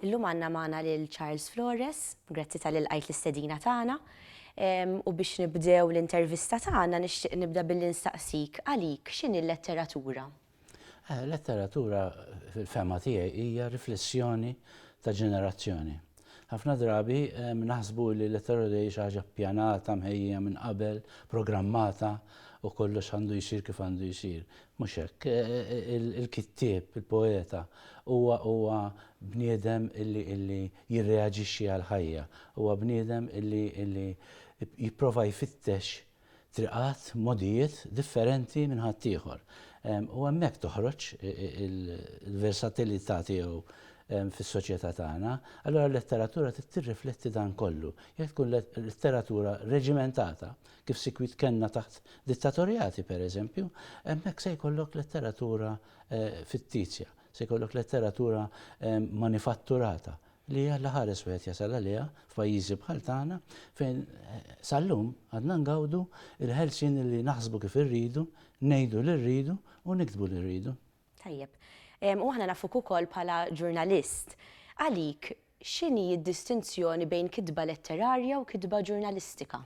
Illum għandna magħna lil Charles Flores, grazzi tal ilqajt l-istedina tagħna. U biex nibdew l-intervista tagħna nixtieq nibda billi nistaqsik għalik x'inhi l-letteratura? Eh, letteratura fil-fema tiegħi hija riflessjoni ta' ġenerazzjoni. Ħafna drabi naħsbu li l-elettorat jgħid xi ħaġa ppjanata, mħejjija minn qabel, programmata u kollox għandu jsir kif għandu jsir. Mhux hekk. Il-kittieb, il-poeta, huwa huwa bniedem illi illi jirreaġixxi għall-ħajja, huwa bniedem illi illi jipprova jfittex triqat, mogħdijiet differenti minn ħaddieħor. U hemmhekk toħroġ il-versatilità tiegħu fis-soċjetà tagħna. Allura l-letteratura trid tirrifletti dan kollu. Jekk tkun letteratura reġimentata, kif sikwit kellna taħt dittatorjati pereżempju, hemmhekk se jkollok letteratura fittizja, se jkollok letteratura manifatturata, li hija l-aħares wieħed jasal għaliha f'pajjiżi bħal tagħna fejn sal-lum għadna ngawdu l-ħelsien li naħsbu kif irridu, ngħidu li rridu u niktbu li rridu. Tajjeb. U aħna nafuk ukoll bħala ġurnalist. Għalik, x'inhi d-distinzjoni bejn kitba letterarja u kitba ġurnalistika?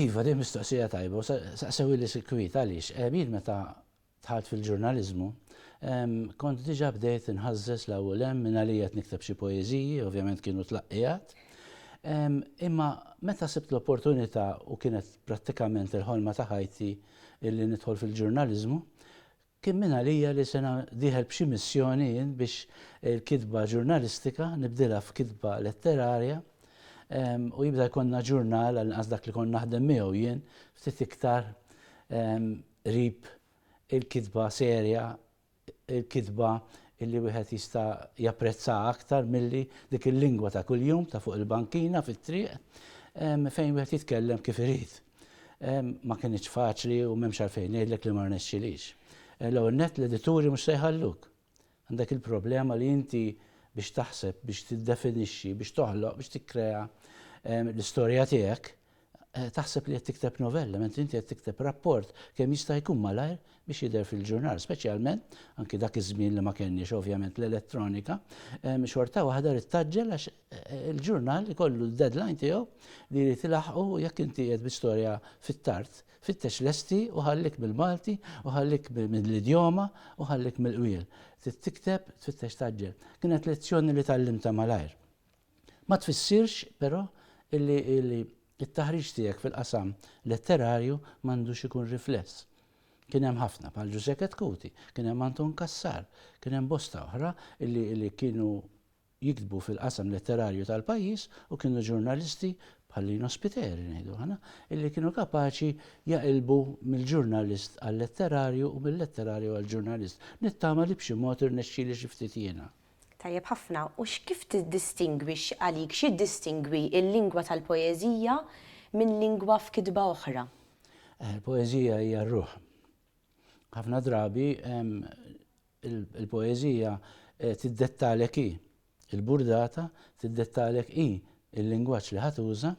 Iva, din mistoqsija tajba u saqsewhieli sikwit għaliex jien meta dħalt fil-ġurnaliżmu, kont diġà bdejt inħażżeż 'l hawn u 'l hemm, mingħalija qed nikteb xi poeżiji, ovvjament kienu tlaqqiegħat. Imma meta sibt l-opportunità u kienet prattikament il-ħolma ta' ħajti li nidħol fil-ġurnaliżmu, kien mingħalija li sena dieħel b'xi missjoni jien biex il-kitba ġurnalistika nibdilha f'kitba letterarja u jibda jkollna ġurnal, għall-inqas dak li kont naħdem miegħu jien, ftit iktar qrib, il-kitba serja, il-kitba li wieħed jista' japprezzaha aktar milli dik il-lingwa ta' kuljum ta' fuq il-bankina fit-triq fejn wieħed jitkellem kif irid. Ma kinitx faċli u m'hemmx għalfejn ngħidlek li ma rnexxilix. L-ewwel nett l-edituri mhux se jħalluk. Għandek il-problema li inti biex taħseb, biex tiddefinixxi, biex toħloq, biex tikkrea l-istorja tiegħek, eh, taħseb li qed tikteb novella, mentri inti qed tikteb rapport kemm jista' jkun malajr biex jidher fil-ġurnal, speċjalment anki dak iż-żmien li ma kenniex ovvjament l-elettronika, xorta waħda rid taġġel għax eh, il-ġurnal ikollu d-deadline tiegħu li jrid ilaħqu jekk inti qed bi storja fit-tard Fittex lesti u ħallik mill-Malti u ħallik mill-idjoma u ħallik mill-qwiel. Trid tikteb, tfittex tgħaġġel. Kienet lezzjoni li tgħallimtha malajr. Ma tfissirx, però, illi t-taħriġ tiegħek fil-qasam letterarju m'għandux ikun rifless. Kien hemm ħafna bħal Ġużè Ketkuti, kien hemm Anton Cassar, kien hemm bosta oħra illi kienu jiktbu fil-qasam letterarju tal-pajjiż u kienu ġurnalisti bħal Lino Spiteri, ngħidu aħna, illi kienu kapaċi jaqilbu mill-ġurnalist għal-letterarju u mil-letterarju għall-ġurnalist. Nittama li b'xi mod irnexxieli xi ftit jiena. Tajjeb ħafna. U x'kif tiddistingwi, x'għalik, x'jiddistingwi l-lingwa tal-poeżija minn lingwa f'kitba oħra? Il-poeżija hija r-ruħ. Ħafna drabi il-poeżija eh, tiddettalek hi il-burdata, tiddettalek hi il-lingwaġġ li ħatuża,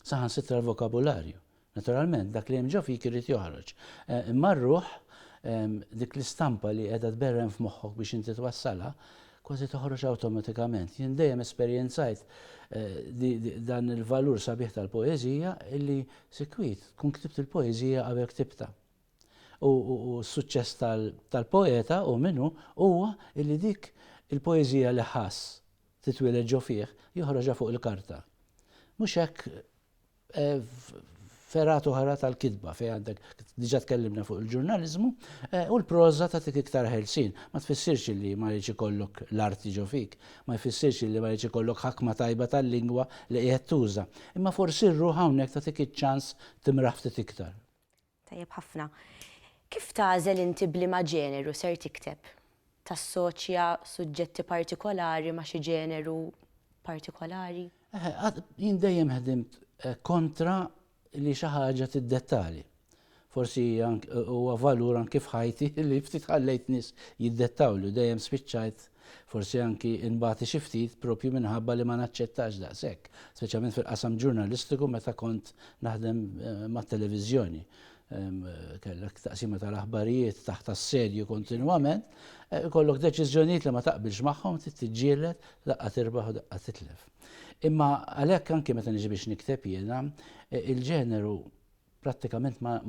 saħan sitra l-vokabularju. Naturalment, dak li hemm ġo fik irid joħroġ. Eh, imma r-ruħ dik l-istampa li qiegħda tberren f'moħħok biex inti twassalha, kważi toħroġ awtomatikament. Jien dejjem esperjenzajt eh, dan il-valur sabiħ tal-poeżija illi sikwit kun ktibt il-poeżija qabel ktibta. U s-suċċess tal-poeta, hu min hu, huwa li dik il-poeżija li ħass titwieled ġo fih, joħroġha fuq il-karta. Mhux hekk f'fergħat oħra tal-kitba fejn għandek diġà tkellimna fuq il-ġurnaliżmu, u l-proża tagħtik iktar ħelsien. Ma tfissirx li ma jridx ikollok l-arti ġo fik, ma jfissirx li ma jridx ikollok ħakma tajba tal-lingwa li qiegħed tuża, imma forsi r-ruħ hawnhekk tagħtik iċ-ċans timraħ ftit iktar. Tajjeb ħafna. Kif tagħżel inti b'liema ġeneru ser tikteb? Tassoċja suġġetti partikolari ma' xi ġeneru partikolari? Eħe, jien dejjem ħdimt kontra li xi ħaġa tiddettali. Forsi huwa valur anki f'ħajti li ftit ħallejt nies jiddettawli u dejjem spiċċajt Forsi anki nbati xi ftit propju minħabba li ma naċċettax daqshekk, speċjalment fil-qasam ġurnalistiku meta kont naħdem mat-televiżjoni. Kellek taqsima tal-aħbarijiet taħt assedju kontinwament, ikollok deċiżjonijiet li ma taqbilx magħhom, trid tiġġieled, daqqa tirbaħ u daqqa titlef. Imma għalhekk anki meta niġi biex nikteb jiena, il-ġeneru prattikament ma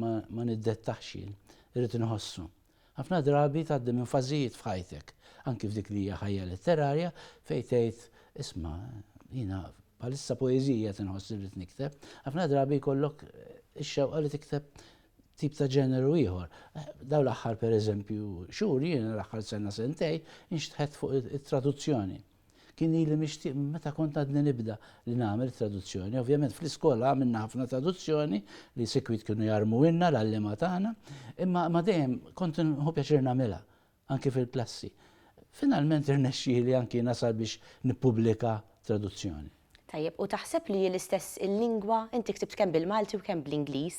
niddettaħx jien, irrid inħossu. Ħafna drabi tgħaddi minn fażijiet f'ħajtek, anki f'dik li hija ħajja letterarja, fejn tgħid, isma', jiena bħalissa poeżija qed inħoss li rrid nikteb, ħafna drabi jkollok ix-xewqa li tikteb tip ta' ġeneru ieħor. Daw l-aħħar pereżempju xhur jiena l-aħħar sena sentej inxtħet fuq it-traduzzjoni. Kien ili mixtieq minn meta kont għadni nibda li nagħmel traduzzjoni. Ovvjament fl-iskola għamilna ħafna traduzzjoni li sikwit kienu jarmuwilna l-għalliema tagħna, imma ma dejjem kont nħu pjaċir nagħmilha, anki fil-klassi. Finalment irnexxieli anki nasal biex nippubblika traduzzjoni. Tajjeb, u taħseb li hi l-istess il-lingwa? Inti ktibt kemm bil-Malti u kemm bl-Ingliż.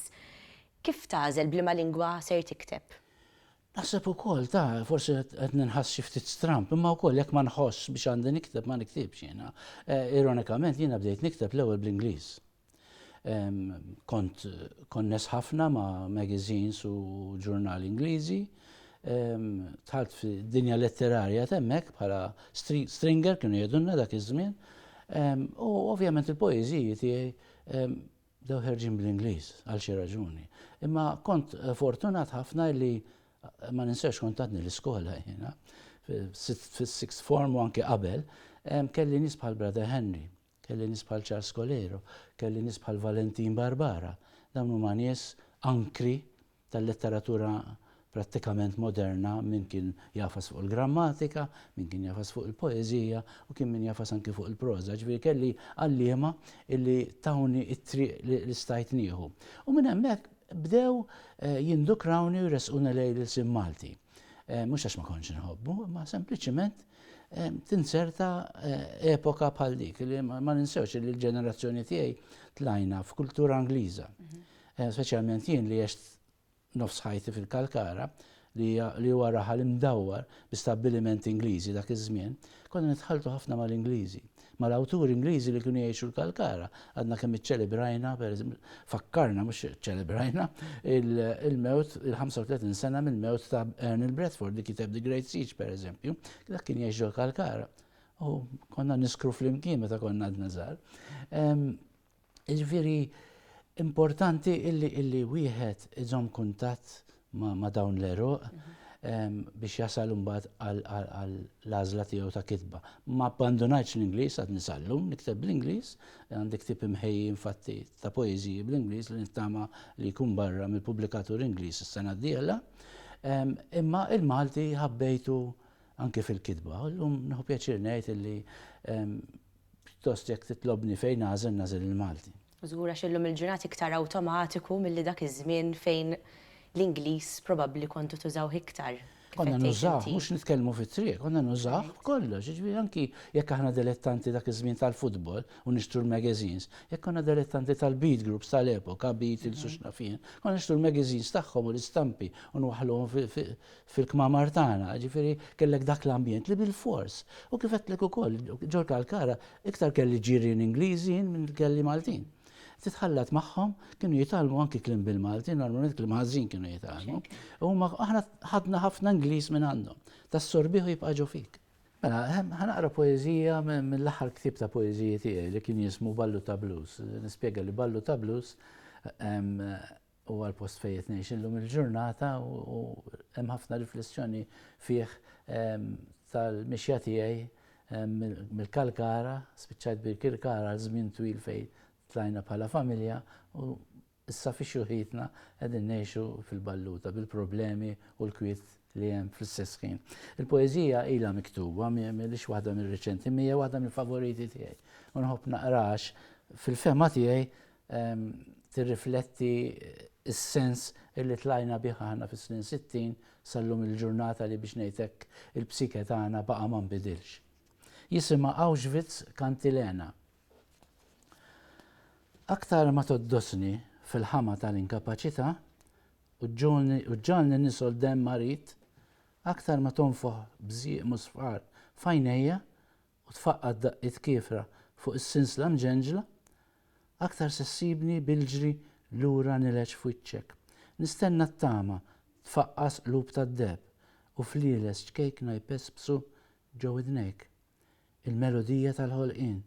Kif tagħżel b'liema lingwa ser tikteb? Naħseb ukoll ta' forsi qed ninħass xi ftit stramp, imma wkoll jekk ma nħoss biex għandi nikteb ma niktibx jiena. Eh, ironikament jiena bdejt nikteb l-ewwel bl-Ingliż. Kont konnes ħafna ma' magazines u ġurnali Ingliżi. Tħalt fi dinja letterarja temmek bħala stringer kienu jedunna dak iż-żmien. U ovvjament il-poeżiji tiegħi Bdew ħerġin bl-Ingliż għal xi raġuni. Imma kont fortunat ħafna li ma ninsax kont għadni l-iskola jiena, fis-sixth form u anke qabel, kelli nies bħal Brother Henry, kelli nies bħal Charles Colero, kelli nies bħal Valentin Barbara. Dawn huma nies ankri tal-letteratura prattikament moderna, min kien jagħfas fuq il-grammatika, min kien jagħfas fuq il-poeżija u kien min jagħfas anki fuq il-proża, ġifieri kelli għalliema li tawni t-triq li stajt nieħu. U minn hemmhekk bdew jindukrawni u jressquni lejn l-ilsien Malti. Mhux għax ma kontx inħobbu, imma sempliċiment tinserta epoka bħal dik li ma ninsewx li l-ġenerazzjoni tiegħi tlajna f'kultura Ingliża. Speċjalment jien li għext nofs ħajti fil-Kalkara, li huwa raħal imdawwar bi stabbiliment Ingliżi dak iż-żmien, konna nitħalltu ħafna mal-Ingliżi. Mal-awturi Ingliżi li kienu jgħixu l-Kalkara, għadna kemm iċċelebrajna, pereżempju, fakkarna, mhux iċċelebrajna, il-mewt, il-35 sena mill-mewt ta' Ernil Bradford li kiteb The Great Siege, pereżempju, dak kien jgħix ġol-Kalkara. U konna niskru flimkien meta konna għadna żgħar. Jiġifieri importanti illi illi wieħed iżomm kuntatt ma' dawn l-eruq biex jasal imbagħad għall-għażla tiegħu ta' kitba. Ma abbandunajtx l-Ingliż għad nisallum, nikteb bl-Ingliż, għandi ktieb imħejji infatti ta' poeżiji bl-Ingliż li nittama li jkun barra mill-pubblikatur Ingliż is-sena d-dieħla. Imma il-Malti ħabbejtu anke fil-kitba. Illum nieħu pjaċir ngħid illi Pjuttost jekk titlobni fejn nagħżel, nagħżel il-Malti. Żgur għax illum il-ġurnat iktar awtomatiku milli dak iż-żmien fejn l-Ingliż probabbli kontu tużawh iktar. Konna nużawh, mhux nitkellmu fit-triq, konna nużawh b'kollox, jiġifieri anki jekk aħna dilettanti dak iż-żmien tal-futbol u nixtru l-magazines, jekk konna dilettanti tal-beat groups tal-epoka, Beatles u x'naf jien, konna nixtru l-magazines tagħhom u l-istampi u nwaħħluhom fil-kmamar tagħna, jiġifieri kellek dak l-ambjent li bilfors. U kif għedtlek ukoll, ġol Kalkara iktar kelli ġirien Ingliżi jien milli kelli Maltin. Titħallat magħhom, kienu jitgħallmu anki kliem bil-Malti, normalment kliem ħażin kienu jitgħallmu. U huma aħna ħadna ħafna Ingliż minn għandhom. Tassorbih u jibqa' ġo fik. Mela, ħanaqra poeżija mill-aħħar ktieb ta' poeżiji tiegħi li kien jismu Ballu ta' Blues. Nispjega li Ballu ta' Blues Huwa l-post fejn qed ngħix illum il-ġurnata u hemm ħafna riflessjoni fih tal-mixja tiegħi mill-Kalkara, spiċċajt Birkirkara għal żmien twil fejn tlajna bħala familja u issa fi xjuħitna qegħdin ngħixu fil-Balluta bil-problemi u l-kwiet li hemm fl-istess ħin. Il-poeżija ilha miktuba mhix waħda mir-riċenti, mija waħda mill-favoriti tiegħi. U nħobb naqrax fil-fema tiegħi tirrifletti s-sens li tlajna bih aħna fis-snin 60 sal-lum il-ġurnata li biex ngħid hekk il-psike tagħna baqa' ma nbidilx. Jisimha Auschwitz Kantilena. Aktar ma toddosni fil-ħama tal-inkapaċità u ġġalni nisol demm marid, aktar ma tonfoħ bżieq musfar f'għajnejja, u tfaqqad daqqiet kiefra fuq is-sinsla mġenġla, aktar se ssibni bil-ġri lura nileġ f'wiċċek. Nistenna t-tama tfaqqas qlub tad-deheb u flieles ċkejkna jpespsu ġo widnejk, il-melodija tal-ħolqien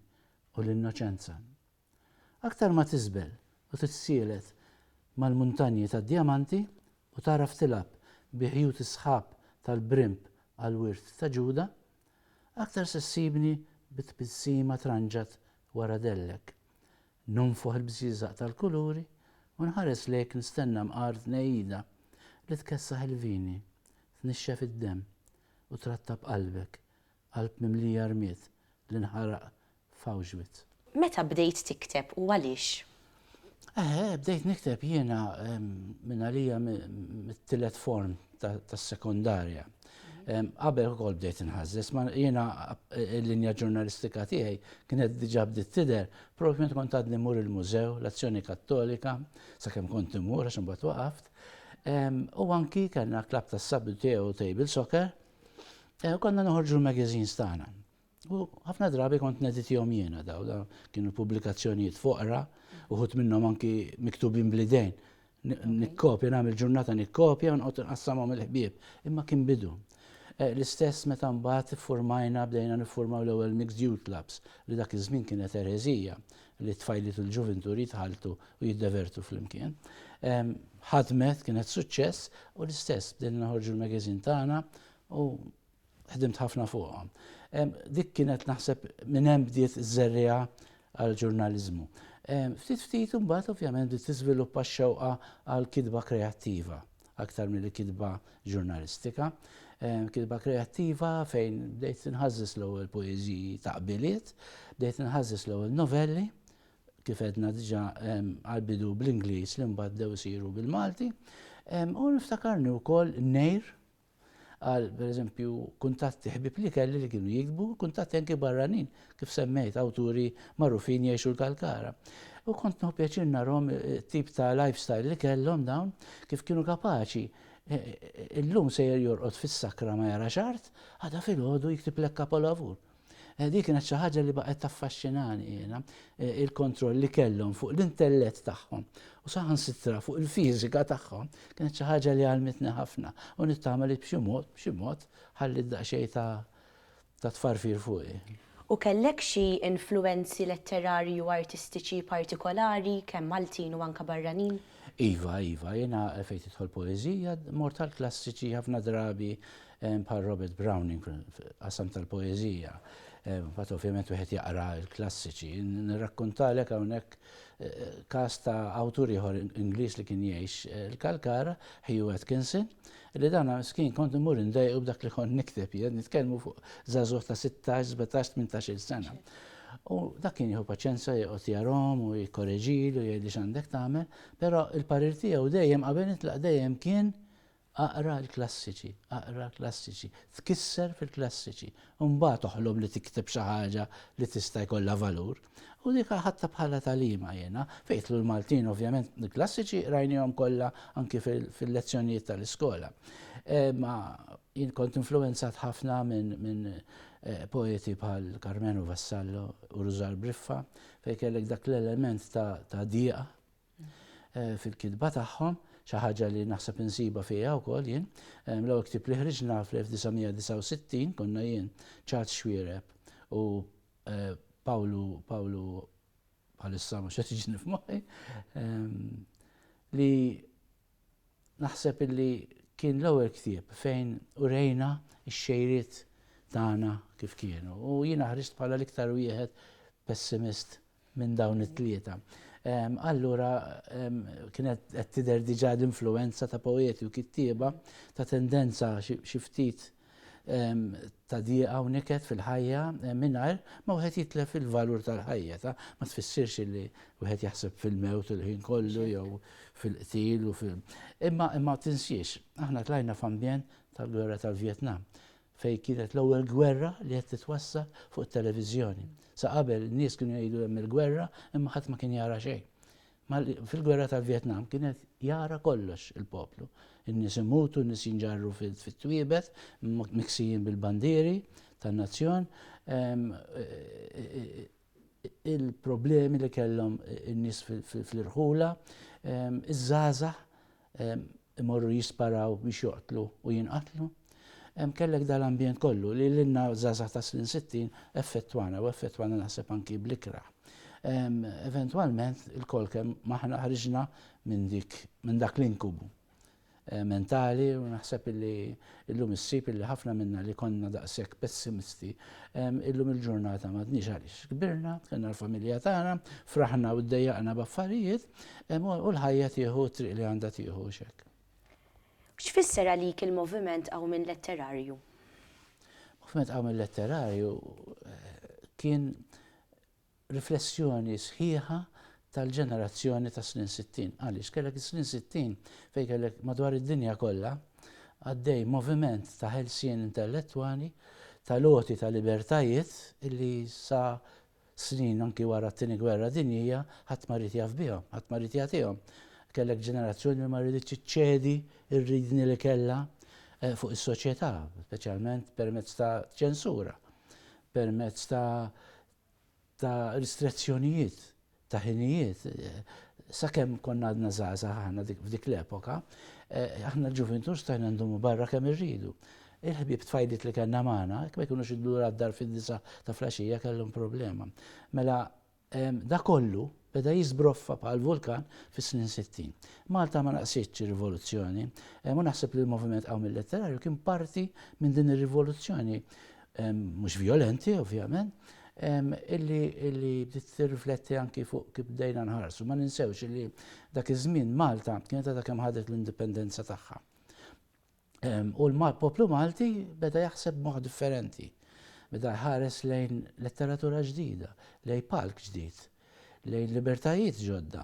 u l-innoċenza. Aktar ma tiżbel u titsielet mal-muntanji tad-djamanti u tagħraf tilgħab bi ħjut is-sħab tal-brimb għall-wirt ta' Ġuda, aktar se ssibni bi tbissima tranġat wara dellek. Nunfoħ il-bżieżaq tal-kuluri u nħares lejk nistenna mqar tnejjida li tkessaħ il-vini, tnixxef id-demm u trattab qalbek, qalb mimlija rmied li nħaraq f'Auschwitz. Meta bdejt tikteb u għaliex? Eħe, bdejt nikteb jiena minn għalija mit-tielet form tas-sekondarja. Qabel ukoll bdejt inħażżes, ma jiena l-linja ġurnalistika tiegħi kienet diġà bdiet tidher propju meta kont għadni mur il-mużew, l-Azzjoni Kattolika, sakemm kont imur għax imbagħad waqaft. U anki kellna klab tas-sabbi tiegħu table soccer, eh, konna noħorġu l-magazines tagħna. U ħafna drabi kont neditihom jiena daw, daw kienu pubblikazzjonijiet foqra, uħut minnhom anki miktubin blidejn. Nikkopja, nagħmel ġurnata nikkopja u nqgħod nqassamhom il-ħbieb. Imma kien bidu. Eh, l-istess meta mbagħad iffurmajna bdejna niffurmaw l-ewwel mixed youth clubs li dak iż-żmien kienet ereżija li t-tfajliet u l-ġuvintur jitħaltu u jiddevertu flimkien. Ehm, ħadmet kienet suċċess u l-istess bdejna naħorġu l-magazin tagħna u Ħdimt ħafna fuqhom. Dik kienet naħseb minn hemm bdiet żerriha għal ġurnaliżmu. Ftit ftit imbagħad ovvjament bdiet tiżviluppa x-xewqa għal kitba kreattiva aktar milli kitba ġurnalistika. Kitba kreattiva fejn bdejt inħażżis l-ewwel poeżiji ta' qbiliet, bdejt inħażżis l-ewwel novelli, kif edna diġa għal-bidu bl-Inglis li mbagħad dew isiru bil-Malti. U niftakarni wkoll nejr għal pereżempju kuntatti ħbieb li kelli li kienu jikbu, kuntatti anki barranin, kif semmejt awturi magħrufin jgħixu l-Kalkara. U kont nħu pjaċir narhom eh, tip ta' lifestyle li kellhom dawn, kif kienu kapaċi eh, eh, illum sejjer jorqod fis-sakra ma jara xart, għada fil-ħodu jiktib lek kapolavur. Eh, Dik kienet xi ħaġa li baqgħet taffaxxinani jiena, eh, il-kontroll li kellhom fuq l-intellett tagħhom u saħansitra fuq il-fiżika tagħhom kienet xi ħaġa li għalmitni ħafna u nittama li b'xi mod, b'xi mod ħalli daqsxejn ta' ta' tfarfir fuqi. U kellek xi influenzi letterarji u artistiċi partikolari kemm Maltin u anke barranin? Iva, iva, jiena fejn tidħol poeżija mort tal-klassiċi ħafna drabi bħal Robert Browning fil-qasam tal-poeżija, mbagħad ovvjament wieħed jaqra l-klassiċi. Nirrakkuntalek hawnhekk każ ta' awtur ieħor Ingliż li kien jgħix il-Kalkara, Hugh Atkinson, li dan miskin kont imur indejqu b'dak li kont nikteb jien, nitkellmu fuq żagħżugħ ta' 16, 17, 18-il sena. U dak kien jieħu paċenza joqgħod jarhom u jikkoreġilu jgħidli x'għandek tagħmel, però l-parir tiegħu dejjem qabel nitlaq dejjem kien Aqra l-klassiċi, aqra l-klassiċi, tkisser fil-klassiċi, u mbagħad oħlom li tikteb xi ħaġa li tista' jkollha valur. U dik aħadtha bħala tagħlima jiena. Fejn jidħlu l-Maltin ovvjament l-klassiċi qrajnihom kollha anki fil-lezzjonijiet tal-iskola. Ma jien kont influwenzat ħafna minn poeti bħal Karmenu Vassallo u Rużar Briffa fejn kellek dak l-element ta' diqa fil-kitba tagħhom, xi ħaġa li naħseb insibha fija wkoll jien. L-ewwel ktieb li ħriġna fl-1969 konna jien Charles Xwiereb u Pawlu Pawlu bħalissa mhux qed jiġini f'moħħi li naħseb illi kien l-ewwel ktieb fejn urejna x-xejriet tagħna kif kienu u jiena ħriġt bħala l-iktar wieħed pessimist minn dawn it-tlieta. Allura kienet qed tidher diġà l-influwenza ta' poeti u kittieba ta' tendenza xi ftit ta' dieqa u niket fil-ħajja mingħajr ma wieħed jitlef il-valur tal-ħajja ta' ma tfissirx li wieħed jaħseb fil-mewt il-ħin kollu jew fil-qtil u fil imma imma tinsiex aħna tlajna f'ambjent tal-gwerra tal-Vjetnam fej kienet l-ewwel gwerra li qed titwassal fuq it-televiżjoni. Sa qabel nies kienu jgħidu hemm il-gwerra imma ħadd ma kien jara xejn. Fil-gwerra tal-Vjetnam kien qed jara kollox il-poplu. In-nies imutu, n-nies jinġarru fit-twiebet, miksijin bil-bandieri tan-nazzjon. Il-problemi li kellhom in-nies fl-irħula, iż-żgħażagħ imorru jisparaw biex joqtlu u jinqatlu. Hemm kellek dal-ambjent kollu li lilna żgħażagħ ta' snin 60 effettwana u effettwana naħseb anki bl-ikrah. Eventwalment il-kol kemm maħna ħriġna minn dik minn dak l-inkubu eh, mentali u naħseb illi illum issib illi ħafna minna li konna daqshekk pessimisti illum il-ġurnata m'għadniex għaliex. Kbirna, kellna l-familja tagħna, fraħna u ddejjaqna b'affarijiet, U l-ħajja tieħu t-triq li għandha tieħu hux hekk. X'fisser għalik il-moviment qawmien letterarju? Moviment qawmien letterarju eh, kien riflessjoni sħiħa tal-ġenerazzjoni ta' snin 60. Għaliex kellek is-snin 60 fejn kellek madwar id-dinja kollha għaddej moviment ta' ħelsien intellettwali, ta' loti ta' libertajiet illi sa Snin anki wara t-Tieni Gwerra Dinjija, ħadd ma ried jaf bihom, ħadd ma ried jagħtihom. Kellek ġenerazzjoni li ma rieditx iċċedi r-riedni li kellha fuq is-soċjetà, speċjalment permezz ta' ċensura, permezz ta' ta' ristrezzjonijiet ta' ħinijiet. Sakemm konna għadna żgħażagħ aħna f'dik l-epoka, aħna l-ġuvintur stajna ndumu barra kemm irridu. Il-ħbieb tfajliet li kellna magħna, jekk ma jkunux iddu lura d-dar fid-disgħa ta' flaxija kellhom problema. Mela, dak kollu beda jiżbroffa bħal vulkan fis-snin sittin. Malta ma naqsitx ir-rivoluzzjoni, u naħseb li l-Moviment Qawmien Letterarju kien parti minn din ir-rivoluzzjoni, mhux vjolenti ovvjament, illi bdiet tirrifletti anki fuq kif bdejna nħarsu. Ma ninsewx illi dak iż-żmien Malta kienet għadha kemm ħadet l-indipendenza tagħha. U l-poplu Malti beda jaħseb moħ differenti. Beda jħares lejn letteratura ġdida, lejn palk ġdid, lejn libertajiet ġodda,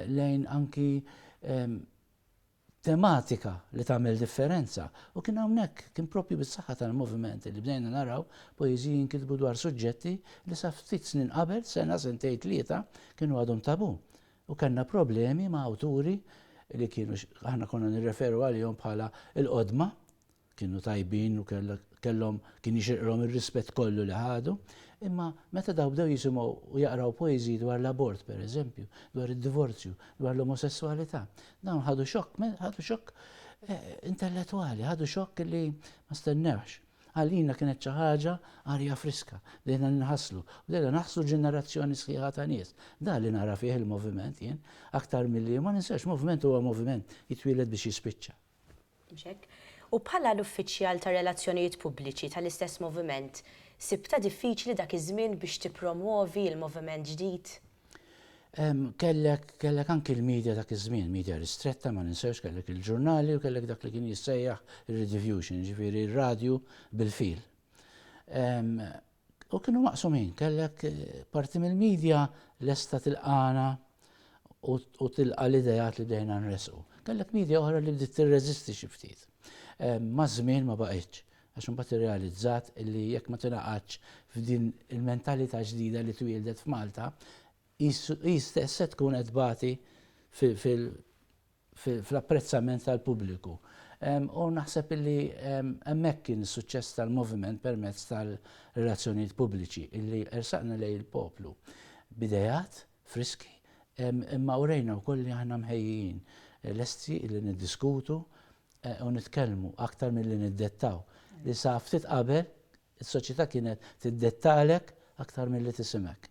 lejn anki tematika li tagħmel differenza. U kien hawnhekk kien propju bis-saħħa tal-moviment li bdejna naraw poeżiji jinkitbu dwar suġġetti li sa ftit snin qabel, sena sentej tlieta, kienu għadhom tabu. U kellna problemi ma' awturi li kienu aħna konna nirreferu għalihom bħala l-qodma, kienu tajbin u kellhom kien jixirqilhom ir-rispett kollu li ħadu, imma meta dawn bdew jisimgħu u jaqraw poeżiji dwar l-abort pereżempju, dwar id-divorzju, dwar l-omosesswalità, dawn ħadu xokk, ħadu xokk intellettwali, ħadu xokk li ma stennewhx. Għalina kienet xi ħaġa arja friska, bdejna ninħaslu, bdejna naħslu ġenerazzjoni sħiħa ta' nies. Dan li nara fih il-moviment jien, aktar milli, ma ninsewx, moviment huwa moviment, jitwieled biex jispiċċa. Mhux hekk? U bħala l-uffiċjal tar-relazzjonijiet pubbliċi tal-istess moviment, sibtha diffiċli dak iż-żmien biex tippromwovi l-moviment ġdid? Kellek, kellek anki l-media dak iż-żmien, media ristretta ma ninsewx kellek il-ġurnali u kellek dak li kien jissejjaħ ir-rediffusion, ġifieri r-radju bil-fil. U kienu maqsumin, kellek eh, parti mill-media lesta tilqana u tilqa l-idejat li bdejna nresqu. Kellek media oħra li bdiet tirreżisti xi ftit. Ma żmien ma baqgħetx. Għax imbagħad irrealizzat li jekk ma tingħaqadx f'din il-mentalità ġdida li twieldet f'Malta, hi stess se tkun qed tbati fl-apprezzament tal-pubbliku. U naħseb li hemmhekk kien is-suċċess tal-Moviment permezz tal-relazzjonijiet pubbliċi, li ersaqna lejn il-poplu b'ideat friski, imma urejna wkoll li aħna mħejjijin, lesti li niddiskutu u nitkellmu aktar milli niddettaw, li sa ftit qabel is-soċjetà kienet tiddettalek aktar milli tisimgħek.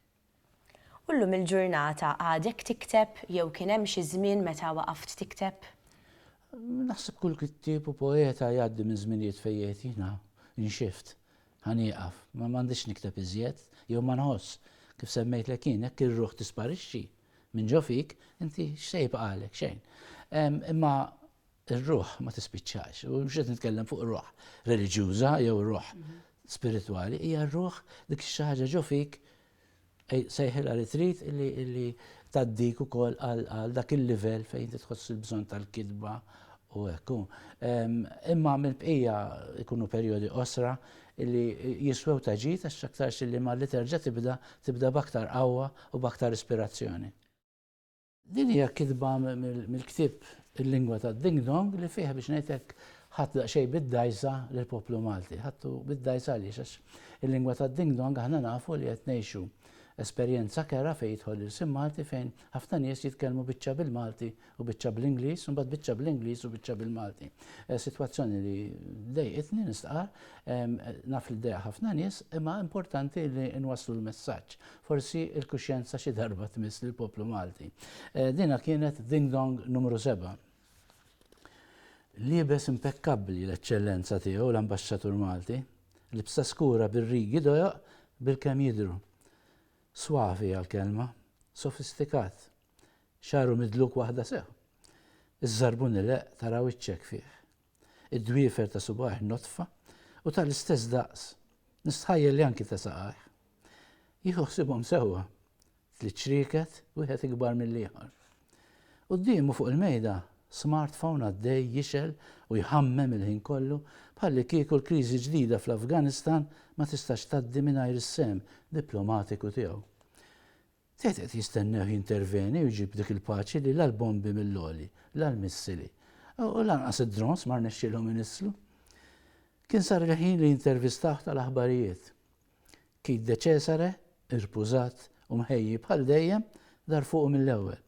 U llum il-ġurnata għadek tikteb jew kien hemm xi żmien meta waqaft tikteb? Naħseb kull kittieb u poeta jgħaddi minn żminijiet fejn jgħid jiena nxift, ħa nieqaf, ma m'għandix nikteb iżjed, jew ma nħoss. Kif semmejtlek jien, jekk ir-ruħ tisparixxi minn ġo fik, inti x'se jibqagħlek? Xejn. Imma Ir-ruħ ma tispiċċax, u mhux qed nitkellem fuq ruħ reliġjuża jew ruħ spiritwali, hija r-ruħ dik xi ħaġa ġo fik sejħilha li trid li taddik ukoll għal dak il-livell fejn inti tħoss il-bżonn tal-kitba u hekk. Imma mill-bqija ikunu perjodi osra li jiswew ta' ġid għax aktarx li ma li terġa' tibda tibda b'aktar qawwa u b'aktar ispirazzjoni. Din hija kitba mill-ktieb Il-Lingwa tad-Ding Dong li fih biex ngħid hekk ħadt daqsxejn bid-dgħajsa lill-poplu Malti. Ħadtu bid-dgħajsa għaliex għax il-lingwa tad-ding dong aħna nafu li qed ngħixu esperjenza kera fejn jidħol l-ilsien Malti fejn ħafna nies jitkellmu biċċa bil-Malti u biċċa bl-Ingliż u mbagħad biċċa bl-Ingliż u biċċa bil-Malti. Eh, sitwazzjoni li dejqitni nistqar, naf li dejja ħafna nies, imma importanti li nwasslu l-messaġġ. Forsi l-kuxjenza xi darba tmiss lill-poplu Malti. Dinha kienet Ding Dong Numru Seba'. Liebes impekkabbli l-Eċċellenza Tiegħu l-Ambaxxatur Malti, libsa skura bir-rigi dojoq bilkemm jidhru. Suavi hija l-kelma, sofistikat. Xagħru midluk waħda sew. Iż-żarbun ileqq tara wiċċek fih. id-dwiefer ta' subgħajh nodfa u tal-istess daqs, nistħajjel li anki ta' saqajh. Jieħu ħsiebhom sewwa, tliet ċrieket, wieħed ikbar mill-ieħor. Quddiemu fuq il-mejda, smartphone għaddej jixgħel u jħammem il-ħin kollu bħallikieku l-kriżi ġdida fl-Afganistan ma tistax tgħaddi mingħajr is-sehem diplomatiku tiegħu. Tgħid qed jistennewh jinterveni u jġib dik il-paċi li la l-bombi mill-għoli, la l-missili, u lanqas id-drones ma rnexxielhom inisslu. Kien sar il-ħin li jintervistawh tal-aħbarijiet. Keith De Cesare, irpużat u mħejji bħal dejjem, dar fuqu mill-ewwel.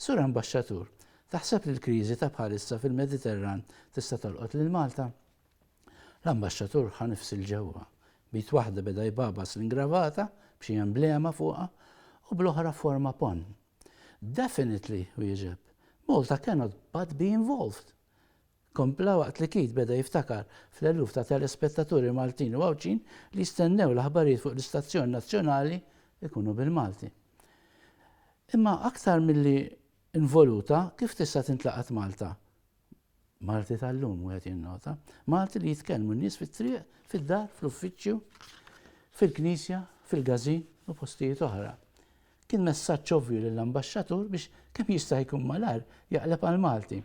Sur Ambaxxatur, taħseb li l-kriżi ta' bħalissa fil-Mediterran tista' tolqot lil Malta? L-Ambaxxatur ħa nifs 'il ġewwa. B'id waħda beda jbagħbas l-ingravata b'xi emblema fuqha u bl-oħra forma ponn. Definitely! wieġeb. Malta cannot but be involved! kompla waqt li Keith beda jiftakar fl-eluf ta' telespettaturi Maltin u Għawdxin li jistennew l-aħbarijiet fuq l-istazzjon nazzjonali jkunu bil-Malti. Imma aktar milli involuta, kif tista' tintlaqat Malta? Malti tal-lum, wieħed jinnota. Malti li jitkellmu n-nies fit-triq, fid-dar, fl-uffiċċju, fil-knisja, fil-gazin u postijiet oħra. Kien messaġġ ovvju lill-Ambaxxatur biex kemm jista' jkun malajr jaqleb għall-Malti.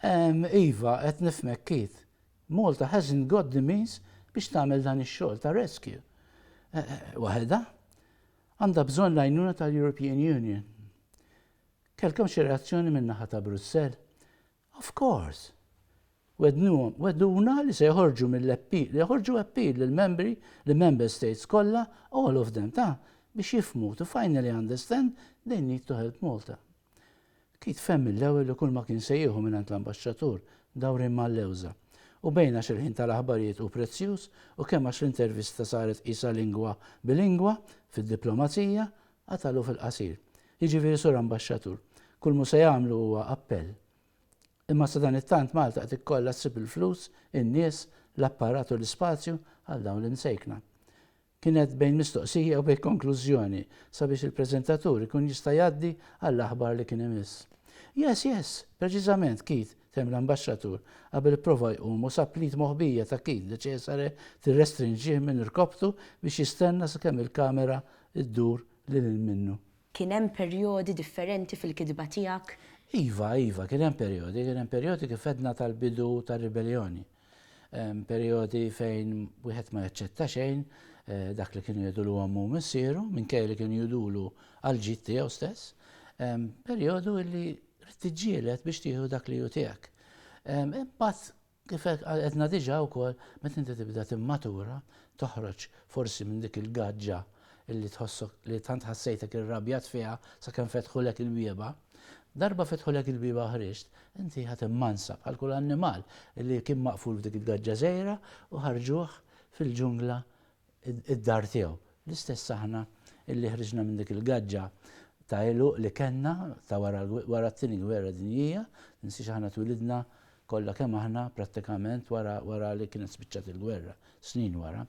Ehm, iva, qed nifhmek, Keith. Malta hasn't got the means biex tagħmel dan ix-xogħol ta' rescue. Eh, eh, waħedha? Għandha bżonn l-għajnuna tal-European Union. Kellkom xi reazzjoni min-naħa ta' Brussell? Of course! Wegħdnuhom, wegħduna li se joħorġu mill-appeal, joħorġu appeal lill-membri, lill-member states kollha, all of them, ta', biex jifhmu, to finally understand, they need to help Malta. Keith fehem mill-ewwel li kull ma kien se jieħu mingħand l-Ambaxxatur, dawrien mal-lewża. U bejn għax il-ħin tal-aħbarijiet hu prezzjuż u kemm għax l-intervista saret qisha lingwa bilingwa, fid-diplomazija, Qatalu fil-qasir. Jiġifieri Sur Ambaxxatur, kull m'hu se jagħmlu huwa appell. Imma sadanittant Malta qed ikollha ssib il-flus, in-nies, l-apparat u l-ispazju għal dawn l-imsejkna. Kienet bejn mistoqsija u bejn konklużjoni sabiex il-preżentatur ikun jista' jgħaddi għall-aħbar li kien imiss. Yes, yes! Preċiżament, Keith! temm l-Ambaxxatur qabel ipprova jqum u sab l-id moħbija ta' Keith Decesare tirrestrinġih minn irkopptu biex jistenna sakemm il-kamera ddur lil hinn minnu. Kien hemm perjodi differenti fil-kitba tiegħek? Iva, iva, kien hemm perjodi, kien hemm perjodi kif għedna tal-bidu tar-ribelljoni. Perjodi fejn wieħed ma jaċċetta xejn dak li kienu jgħidulu ommu u missieru, minkejja li kienu jgħidulu għall-ġid tiegħu stess. Perjodu illi Tiġġieled biex tieħu dak li hu tiegħek. Imbagħad kif għedna diġà wkoll meta inti tibda timmatura, toħroġ forsi minn dik il-gaġġa li tħossok li tant ħassejtek irrabjat fiha sakemm fetħulek il-bieba, darba fetħulek il-bieba u ħriġt, inti ħadd immansa bħal kull annimal li kien maqful f'dik il-gaġġa żgħira u ħarġuh fil-ġungla id-dar tiegħu. L-istess aħna illi ħriġna minn dik il-gaġġa ta' għeluq li kellna ta' wara t-Tieni Gwerra Dinjija, tinsiex aħna twilidna kollha kemm aħna prattikament wara wara li kienet spiċċat il-gwerra, snin wara.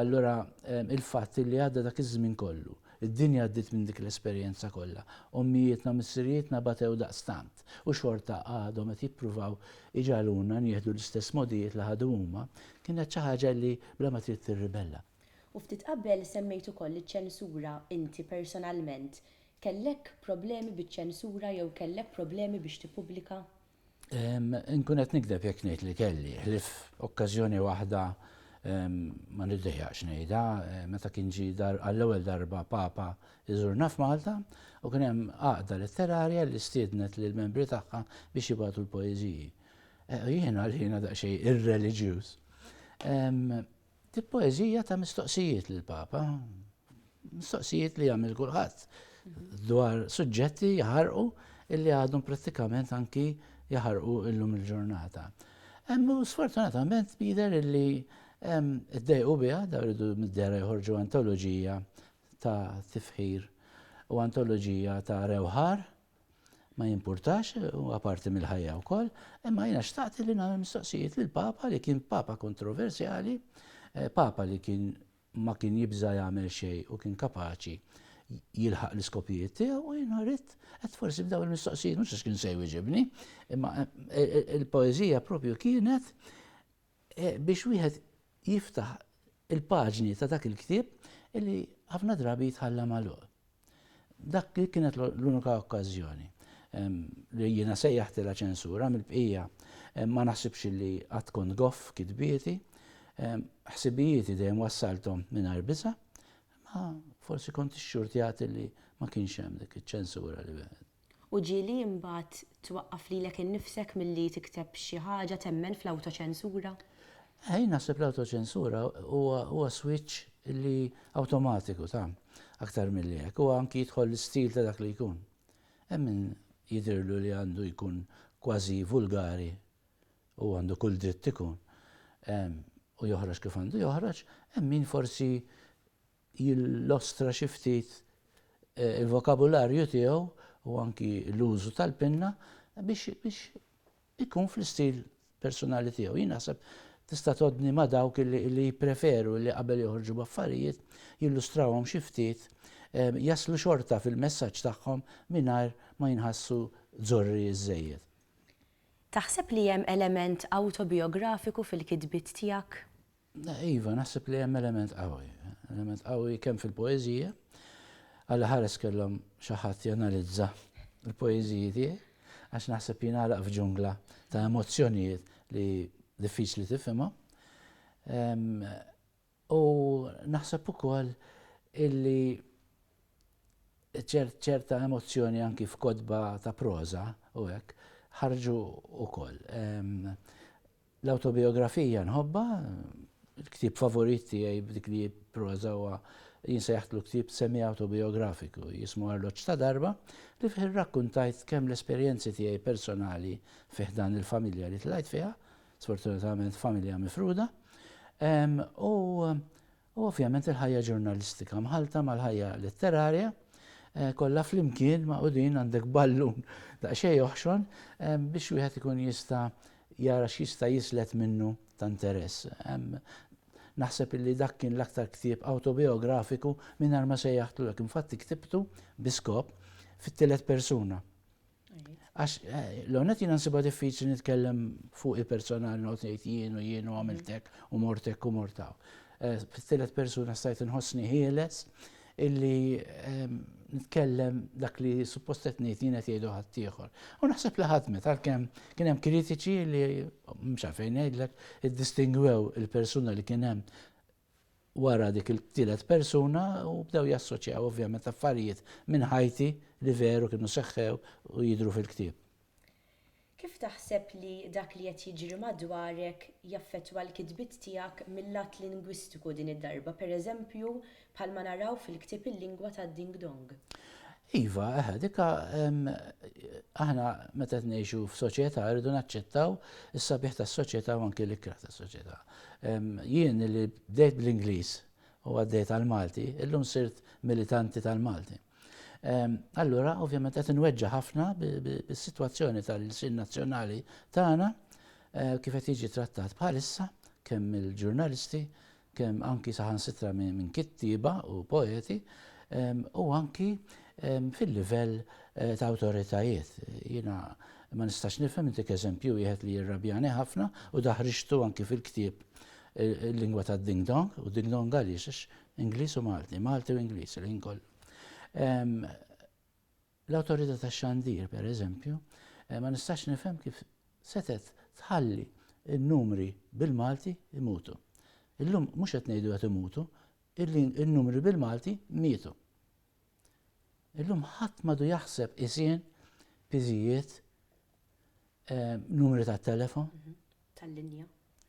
Allura il-fatt li għadda dak iż-żmien kollu, Id-dinja għaddiet minn dik l-esperjenza kollha. Ommijietna u missirijietna batew daqstant, u xorta għadhom qed jippruvaw iġagħluna nieħdu l-istess mogħdijiet li ħadu huma. Kienet xi ħaġa li bla ma trid tirribella. U ftit qabel semmejt ukoll iċ-ċensura, inti personalment kellek problemi biċ-ċensura jew kellek problemi biex tippubblika? Nkun qed nikdeb jekk ngħid li kelli, ħlif okkażjoni waħda ma niddejjaqx ngħidha, meta kien ġi għall-ewwel darba Papa iżurna f'Malta u kien hemm għaqda letterarja li stiednet lil membri tagħha biex jibgħatu l-poeżiji. Eh, jiena li jiena daqsxejn irreliġjuż. Di poeżija ta' mistoqsijiet lill-Papa, mistoqsijiet li jagħmel kulħadd dwar suġġetti jaħarqu illi għadhom prattikament anki jaħarqu illum il-ġurnata. Emmu sfortunatament bider illi id-dejqu biha da rridu mid-dera joħorġu antoloġija ta' tifħir u antoloġija ta' rewħar ma jimpurtax, huwa parti mill-ħajja wkoll, imma jiena xtaqt li nagħmel mistoqsijiet lil Papa li kien Papa kontroversjali, eh, Papa li kien ma kien jibża' jagħmel xejn u kien kapaċi jilħaq l-iskopijiet tiegħu u jiena rrid qed forsi b'dawn il-mistoqsijiet mhux għax kien se jwieġibni, imma eh, eh, il-poeżija propju kienet biex wieħed jiftaħ il-paġni ta' dak il-ktieb li ħafna drabi jitħalla magħluq. Dak li kienet l-unika okkażjoni li jiena sejjaħtilha ċensura mill-bqija ma naħsibx li qatt kont goff kitbieti, ħsibijieti dejjem wassalthom mingħajr biża', ma forsi kont ixxurtjat li ma kienx hemm dik iċ-ċensura li wieħed. U ġieli imbagħad twaqqaf lilek innifsek milli tikteb xi ħaġa, temmen fl-awtoċensura? Jien naħseb l-awtoċensura huwa switch li awtomatiku ta' aktar milli hekk. Huwa anki jidħol l-istil ta' dak li jkun. Hemm min jidhirlu li għandu jkun kważi vulgari u għandu kull dritt ikun u joħroġ kif għandu joħroġ, hemm min forsi jillustra xi ftit il-vokabularju tiegħu u anki l-użu tal-pinna biex ikun fl-istil persunali tiegħu. Jien naħseb tista' tgħoddni ma' dawk li jippreferu li qabel joħorġu b'affarijiet jillustrawhom xi ftit jaslu xorta fil-messaġġ tagħhom mingħajr ma jinħassu żorri żżejjed. Taħseb li hemm element awtobijografiku fil-kitbiet tiegħek? Iva, naħseb li hemm element qawwi. Element qawwi kemm fil-poeżija, għal ħares kellhom xi ħadd janalizza l-poeżiji tiegħi, għax naħseb jingħalaq f'ġungla ta' emozzjonijiet li diffiċli tifhimha. U naħseb ukoll illi ċerta emozzjoni anki f'kodba ta' proża u hekk ħarġu ukoll. L-awtobijografija nħobbha, il-ktieb favorit tiegħi b'dik li proża huwa jinsejjaħtlu ktieb semiawtobijografiku jismu Arloġġ ta' Darba li fih irrakkuntajt kemm l-esperjenzi tiegħi personali fi ħdan il-familja li tlajt fiha, sfortunatament familja mifruda, u U ovvjament il-ħajja ġurnalistika mħallta mal-ħajja letterarja, kollha flimkien magħqudin għandek ballun daqsxejn joħxon biex wieħed ikun jista' jara x'jista' jislet minnu ta' interess. Naħseb illi dak kien l-aktar ktieb awtobijografiku mingħajr ma sejjaħtlu hekk. Infatti ktibtu bi skop fit-tielet persuna. Għax l-għonet jina nsiba diffiċli nitkellem fuq il-personal not ngħid jien u jien u għamiltek u mortek u mortaw. Eh, Fit-tielet persuna stajt nħossni ħieles illi ehm, nitkellem dak li suppostet ngħid jien qed jgħidu ħaddieħor. U naħseb li ħadmet għalkemm kien hemm kritiċi li mhux għalfejn ngħidlek iddistingwew il-persuna li kien hemm wara dik it-tielet persuna u bdew jassoċjaw ovvjament affarijiet minn ħajti li veru kienu seħħew u jidhru fil-ktieb. Kif taħseb li dak li qed jiġri madwarek jaffettwa l-kitbiet tiegħek mil-lat lingwistiku din id-darba, pereżempju bħalma naraw fil-ktieb Il-Lingwa tad-Ding Dong? Iva, eħe, dik aħna meta qed ngħixu f'soċjetà rridu naċċettaw is-sabiħ tas-soċjetà u anke l-ikrah tas-soċjetà. Jien li bdejt bl-Ingliż u għaddejt għall-Malti, illum sirt militanti tal-Malti. Allura, ovvjament qed inweġġa' ħafna bis-sitwazzjoni tal-sin nazzjonali tagħna eh, kif qed jiġi trattat bħalissa kemm il-ġurnalisti kemm anki saħansitra minn kittieba u poeti, u anki fil-livell ta' awtoritajiet. Jiena ma nistax nifhem, intik eżempju wieħed li jirrabjani ħafna u daħriġtu anki fil-ktieb Il-Lingwa tad-Ding Dong, u Ding Dong għaliex? Għax Ingliż u Malti, Malti u Ingliż il-ħin kollu. L-Awtorità tax-Xandir, pereżempju, ma nistax nifhem kif setgħet tħalli n-numri bil-Malti jmutu. Illum mhux qed ngħidu qed imutu, in-numri bil-Malti mietu. Illum ħadd m'għadu jaħseb isien, piżijiet, eh, numri ta' telefon. Mhm. Tal-linja.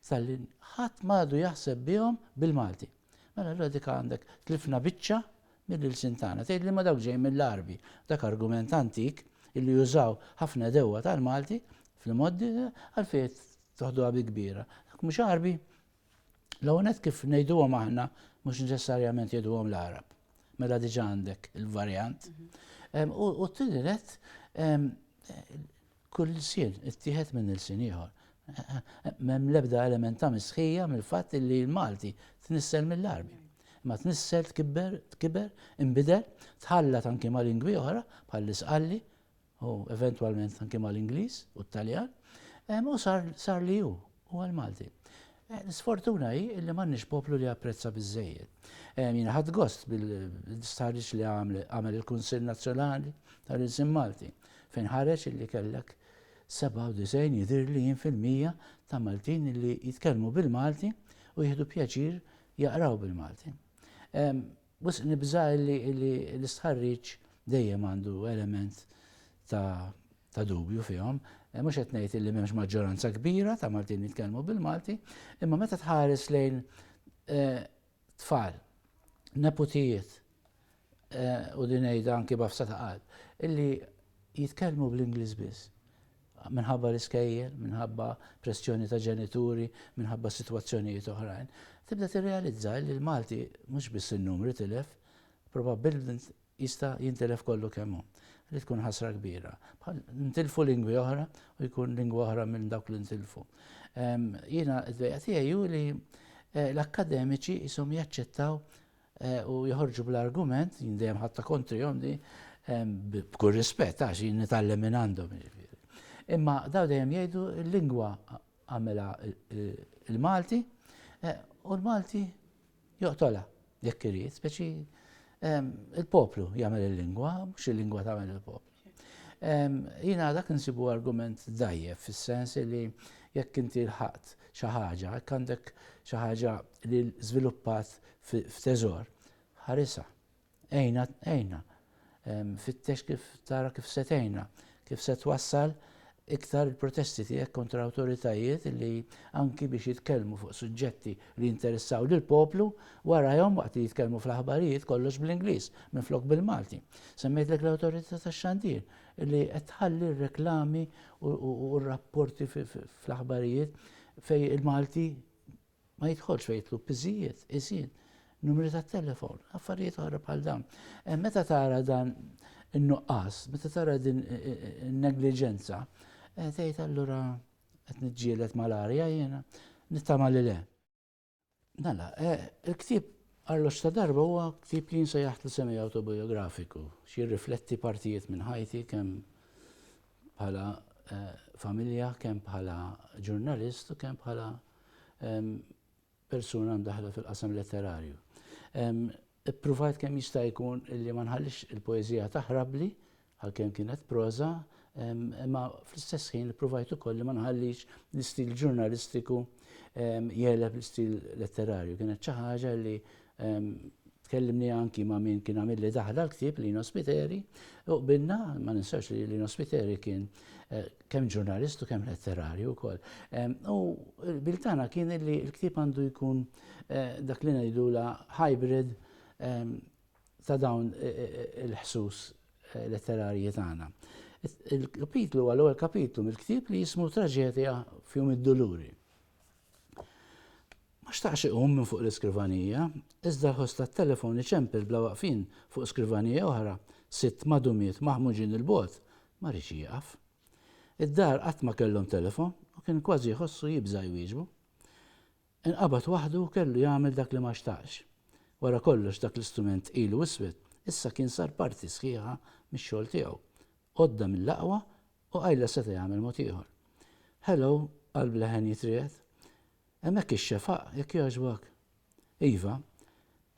Tal-linja. Ħadd madu jaħseb bihom bil-Malti. Mela l dik għandek tlifna biċċa mill-ilsin tagħna. Tgħid li ma dawk ġej mill-Arbi, dak argument antik illi jużaw ħafna dewwa tal-Malti fl-moddi għalfejn toħduha bi kbira. Dak mhux Arbi, L-għonet kif nejduhom aħna, mux neċessarjament jgħiduhom l-Arab. Mela diġa għandek il-varjant. Mhm. U t-tinilet, kull sin, it-tiħet minn il-sin ieħor. Mem lebda element ta' misħija mill-fatt li l-Malti tnissel mill-arbi. Ma tnissel tkibber, tkibber, imbidel, tħallat anki ma' lingwi oħra, bħal isqalli u eventwalment anke mal-Ingliż u t-Taljan, u sar li hu, huwa l-Malti. L-isfortuna hi li m'għandniex poplu li japprezza biżżejjed. Jiena ħadt gost bil-stħarriġ li għamel il-Kunsill Nazzjonali tal-Ilsien Malti, fejn ħareġ li kellek 97 jidhirli jien fil-mija ta' Maltin li jitkellmu bil-Malti u jieħdu pjaċir jaqraw bil-Malti. Wisq nibża' li l-istħarriġ dejjem għandu element ta' dubju fihom. Mhux qed ngħid illi m'hemmx maġġoranza kbira ta' Maltin li jitkellmu bil-Malti, imma meta tħares lejn tfal, neputijiet, u din ngħidha anki b'għafsa ta' qalb, illi jitkellmu bl-Ingliż biss, minħabba l-iskejjel, minħabba pressjoni ta' ġenituri, minħabba sitwazzjonijiet oħrajn, tibda tirrealizza li l-Malti mhux biss in-numri tilef, probabbilment jista' jintilef kollu kemm hu, li tkun ħasra kbira. Bħal ntilfu lingwi oħra u jkun lingwa oħra minn dawk li ntilfu. Jiena d-dwejja tiegħi hu li eh, l-akkademiċi jisom jaċċettaw u joħorġu bl-argument, jien dejjem ħadta kontrihom di, b'kull rispett għax jien nitgħallem minn għandhom jiġifieri. Imma daw dejjem jgħidu l-lingwa għamela il-Malti eh, u l-Malti joqtola jekk irid, speċi ehm, il-poplu jagħmel il-lingwa, mhux il-lingwa tagħmel il-poplu. Jiena dak insibu argument dgħajjef fis-sens li jekk inti lħaqt xi ħaġa, jekk għandek xi ħaġa li żviluppat f'teżor, ħarisha, għejna, għejna, fittex kif tara kif se tgħinna, kif se twassal iktar il-protesti tiegħek kontra awtoritajiet li anki biex jitkellmu fuq suġġetti li jinteressaw lil poplu warajhom waqt li jitkellmu fl-aħbarijiet kollox bl-Ingliż minflok bil-Malti. Semmejtlek l-awtorità tax-xandir li qed tħalli r-reklami u r-rapporti fl-aħbarijiet fejn il-Malti ma jidħolx u jitlu piżijiet, iżin, numri ta' telefon, affarijiet oħra bħal dawn. Eh, meta tara dan in-nuqqas, meta tara din eh, eh, negliġenza, tgħid allura qed niġġieled mal-arja jiena, nittama li le. Mela, il-ktieb Arlox ta' darba huwa ktieb li jinsa jaħt li semi autobiografiku, xi rifletti partijiet minn ħajti kemm bħala familja, kemm bħala ġurnalist u kemm bħala persuna mdaħħla fil-qasam letterarju. Ippruvajt kemm jista' jkun li ma nħallix il-poeżija taħrabli għalkemm kienet proża, imma fl-istess ħin ippruvajt ukoll li ma nħallix l-istil ġurnalistiku jeleb l-istil letterarju. Kienet xi ħaġa li Tkellimni anki ma' min kien għamilli daħla l-ktieb, Lino Spiteri, u qbilna, ma ninsewx li Lino Spiteri kien kemm ġurnalist u kemm letterarju wkoll. U l-qbil tagħna kien li l-ktieb għandu jkun dak li ngħidulha hybrid ta' dawn il-ħsus letterarji tagħna. Il-kapitlu huwa l-ewwel kapitlu mill-ktieb li jismu Traġedja f'Jum id-Duluri. Ma xtaqx iqum minn fuq l-iskrivanija, iżda l-ħoss tat-telefon iċempel bla waqfien fuq skrivanija oħra, sitt madumiet maħmuġin 'il bogħod, ma riedx jieqaf. Id-dar qatt ma kellhom telefon u kien kważi jħossu jibża' jwieġbu. Inqabad waħdu u kellu jagħmel dak li ma xtaqx. Wara kollox dak l-istrument ilu iswed, issa kien sar parti sħiħa mix-xogħol tiegħu. Għodda mill-aqwa u qajla seta' jagħmel mod ieħor. Hello, qalb leħen jitriegħed. Hemmhekk ix-xefaq, jekk jogħġbok? Iva.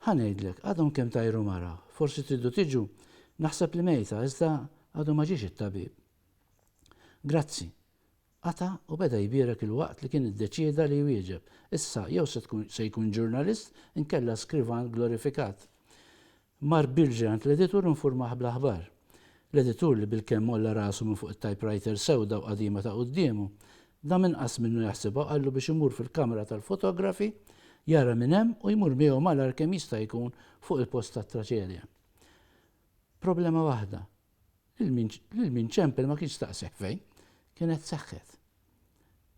Ħa ngħidlek, għadhom kemm tajru mara, forsi tridu tiġu, naħseb li mejta, iżda għadu ma ġiex it-tabib. Grazzi. Qata' u beda jbierek ilwaqt li kien iddeċieda li jwieġeb, issa jew se jkun ġurnalist inkella skrivan glorifikat. Mar Bilge għand l-editur u nfurmah bl-aħbar. L-editur li bilkemm għolla rasu minn fuq it-typewriter sewda u qadima ta' quddiemu, dam inqas minnu jaħsibha u qallu biex imur fil-kamra tal-fotografi, jara min hemm u jmur miegħu malajr kemm jista' jkun fuq il-post tat-traċedja. Problema waħda, lil min ċempel ma kienx staqsih fejn kienet seħħet.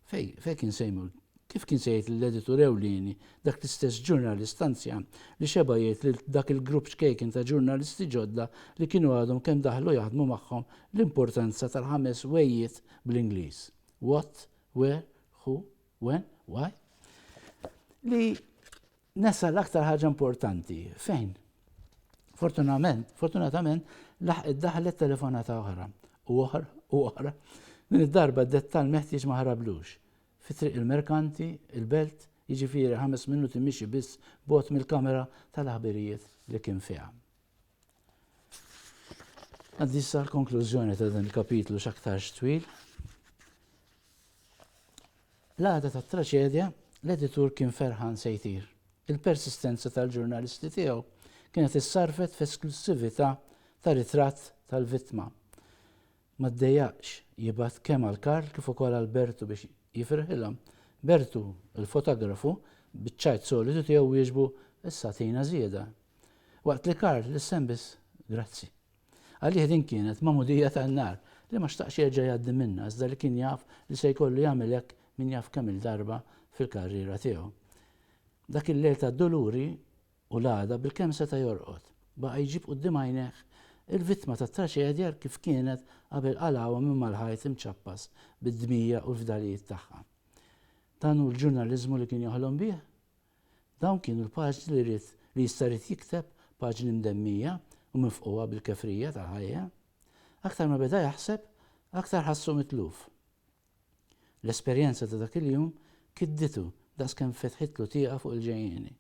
Fej, fej kien Seymour? Kif kien se jgħid lill-editur ewlieni, dak l-istess ġurnalist anzjan li xeba' jgħid lil dak il-grupp ċkejken ta' ġurnalisti ġodda li kienu għadhom kemm daħlu jaħdmu magħhom l-importanza tal-ħames whe'jiet bl-Ingliż, what, where, who, when, why? li Nesa l-aktar ħaġa importanti, fejn? Fortunament, fortunatament, laħqet daħlet telefonata oħra, u oħra, u oħra. Din id-darba d-dettal meħtieġ ma ħarablux. Fi triq il-merkanti, il-belt, jiġifieri ħames minuti mixi biss bogħod mill-kamera tal-aħbirijiet li kien fiha. Għaddi sa l-konklużjoni ta' dan il-kapitlu x'aktarx twil. L-għada ta' traċedja, l-editur kien ferħan se jtir. Il-persistenza tal-ġurnalisti tiegħu kienet issarfet f'esklussività ta' ritratt tal-vittma. Ma ddejjaqx jibgħat kemm għal Karl kif ukoll għal Bertu biex jifirħilhom. Bertu, il-fotografu, biċ-ċajt solitu tiegħu wieġbu, Issa agħtina żieda. Waqt li Karl lissen biss grazzi. Għalih din kienet magħmudija tan-nar li ma xtaqx jerġa' jgħaddi minnha iżda li kien jaf li se jkollu jagħmel hekk min jaf kemm-il darba fil-karriera tiegħu. Dak il-lejl tad-duluri U l-għada, bilkemm seta' jorqod, baqa' jġib quddiem għajnejh il-vittma tat-traċedja kif kienet qabel qalgħuha minn mal-ħajt imċappas bid-dmija u l-fdalijiet tagħha. Dan hu l-ġurnaliżmu li kien joħlom bih? Dawn kienu l-paġni li ried, li jista' ried jikteb, paġni mdemmija u mifqugħa bil-kefrija tal-ħajja? Aktar ma beda jaħseb, aktar ħassu mitluf. L-esperjenza ta' dak il-jum kidditu daqskemm fetħitlu tieqa fuq il-ġejjieni.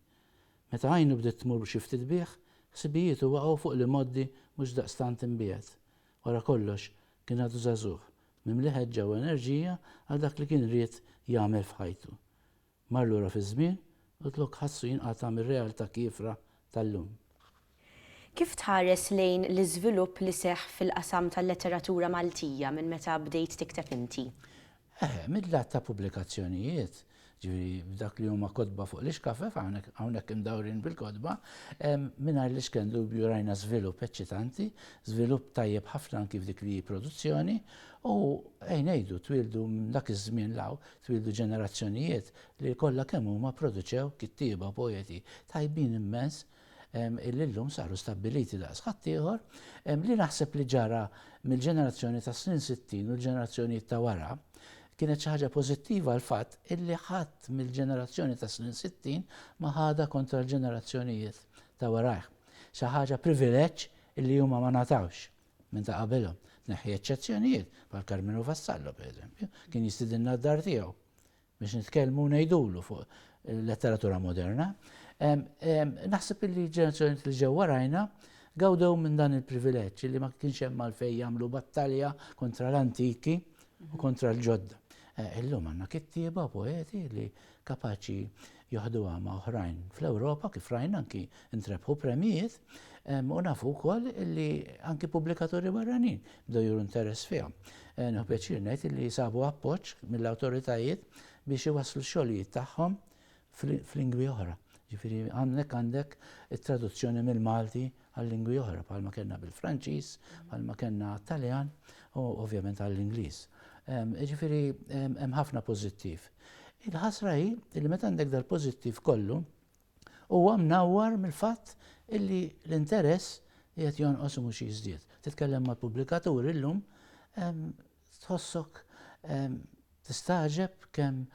Meta għajnu bdiet tmur xi ftit bih, ħsibijietu waqgħu fuq l-imgħoddi mhux daqstant imbiegħed. Wara kollox, kien għadu żagħżugħ, mimli ħeġġa u enerġija għal dak li kien ried jagħmel f'ħajtu. Mar lura fiż-żmien u t-lok ħassu jinqata' mir-realtà kiefra tal-lum. Kif tħares lejn l-iżvilupp li seħħ fil-qasam tal-letteratura Maltija minn meta bdejt tikteb inti? Eħe, mid-lat ta' pubblikazzjonijiet, ġifieri f'dak li huma kotba fuq l-ixkafef, hawnhekk imdawrin bil-kotba, mingħajr l-iskren dubju rajna żvilupp eċċitanti, żvilupp tajjeb ħafna anki f'dik li hi produzzjoni u, ejn ngħidu, twieldu minn dak iż-żmien 'l hawn Twieldu ġenerazzjonijiet li kollha kemm huma pproduċew kittieba, poeti tajbin immens illi llum saru stabbiliti daqs ħaddieħor. Li naħseb li ġara mill-ġenerazzjoni tas-snin sittin u l-ġenerazzjonijiet ta' wara kienet xi ħaġa pożittiva l-fatt illi ħadd mill-ġenerazzjoni tas-snin sittin ma ħadha kontra l-ġenerazzjonijiet ta' warajh. Xi ħaġa privileġġ illi huma ma ngħatawx. minn ta' qabilhom. Tneħħi eċċezzjonijiet, bħal Karmenu Vassallo pereżempju, kien jistidinna d-dar tiegħu biex nitkellmu u ngħidulu fuq il-letteratura moderna. Naħseb li l-ġenerazzjoni li ġew warajna gawdew minn dan il-privileġġ li ma kienx hemm għalfejn jagħmlu battalja kontra l-antiki u kontra l-ġodda. Eh, illum għandna kittieba poeti li kapaċi joħduha ma' oħrajn fl-Ewropa kif rajna anki ntrebħu premjijiet u nafu wkoll li anki pubblikaturi barranin bdew juru interess fihom. Eh, Nħu pjaċir ngħid li sabu appoġġ mill-awtoritajiet biex iwasslu x-xogħlijiet tagħhom fl-lingwi oħra. Ġifieri għandek għandek it-traduzzjoni mill-Malti għal lingwi oħra bħalma kellna bil-Franċiż, bħalma kellna għat-Taljan u ovvjament għall-Ingliż. Jiġifieri hemm ħafna pożittiv. Il-ħasra hi li meta għandek dal-pożittiv kollu huwa mnawwar mill-fatt illi l-interess qiegħed jonqos u mhux jiżdied. Titkellem mal-pubblikaturi llum Tħossok tistagħġeb kemm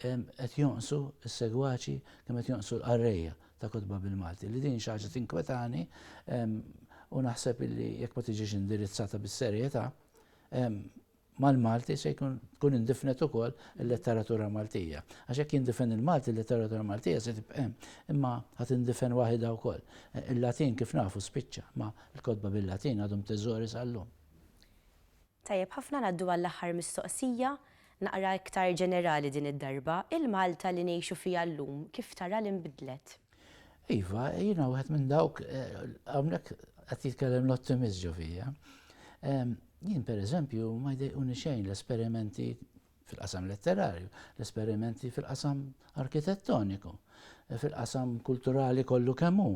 qed jonqsu s-segwaċi, kemm qed jonqsu l-qarrejja ta' kotba bil-Malti, li din xi ħaġa tinkwetani u naħseb illi jekk ma tiġix indirizzata bis-serjetà, mal-Malti se jkun tkun indifnet ukoll il-letteratura Maltija. Għax jekk jindifen il-Malti, il-letteratura Maltija se tibqa' hemm, imma ħa tindifen waħidha wkoll. Il-Latin kif nafu spiċċa, ma l-kotba bil-Latin għadhom teżori sal-lum. Tajjeb ħafna ngħaddu għall-aħħar mistoqsija, naqra iktar ġenerali din id-darba, il-Malta li ngħixu fiha llum kif tara li nbidlet? Iva, jiena wieħed minn dawk, hawnhekk qed jitkellem l-ottimist ġo fija. Jien pereżempju ma jdejquni xejn l-esperimenti fil-qasam letterarju, l-esperimenti fil-qasam arkitettoniku, fil-qasam kulturali kollu kemm hu.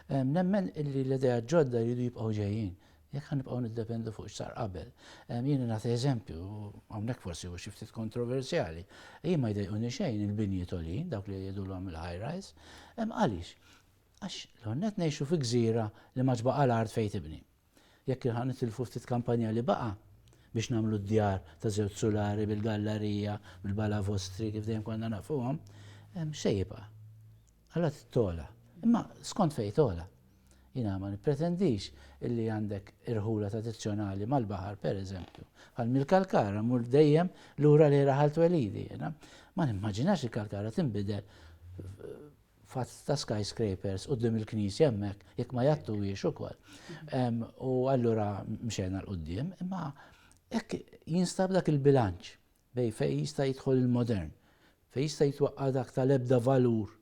Nemmen illi l-idea ġodda jridu jibqgħu ġejjin. Jekk ħan nibqgħu niddependu fuq x'sar qabel. Jiena nagħti eżempju, hawnhekk forsi hu xi ftit kontroversjali. Jien ma jdejquni xejn il-binji tolin, dawk li jgħidulhom il-high rise. Hemm għaliex? Għax l-għonnet ngħixu fi gżira li ma ġbaqa l-art fejn tibni. Jekk kien ħa nitilfu ftit kampanja li baqa' biex nagħmlu d-djar ta' żewġ sulari bil-gallarija, bil-balavostri kif dejjem konna nafuhom, x'se jibqa'? Alla trid togħla. Imma skont fejn togħla. Jiena ma nippretendix illi għandek irħula tradizzjonali mal-baħar, pereżempju. Bħal mill-Kalkara mmur dejjem lura lejn raħal twelidi jiena. Ma nimmaġinax il-Kalkara tinbidel fatt ta' skyscrapers quddiem il-knisja hemmhekk jekk ma jgħattuhiex ukoll. U allura mxejna l quddiem imma hekk jinstab dak il-bilanċ bej fejn jista' jidħol il-modern, fejn jista' jitwaqqa' dak tal-ebda valur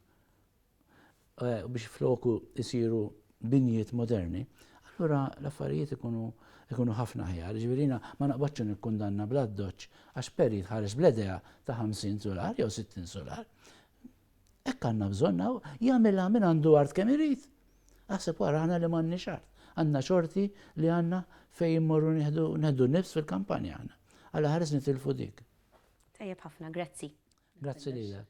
eh, biex floku jsiru binjiet moderni, allura l-affarijiet ikunu ikunu ħafna ħjar. Ġivirina ma naqbadx nikkundanna bl-addoċ għax peri tħares bledea ta' 50 solar jew 60 solar. Hekk għandna bżonn hawn jagħmilha min għandu art kemm irid. Aħseb wara aħna li m'għandniex art. Għandna xorti li għandna fejn immorru nieħdu nieħdu nifs fil-kampanja aħna. Alla ħares nitilfu dik. Tajjeb ħafna, grazzi. Grazzi lilek.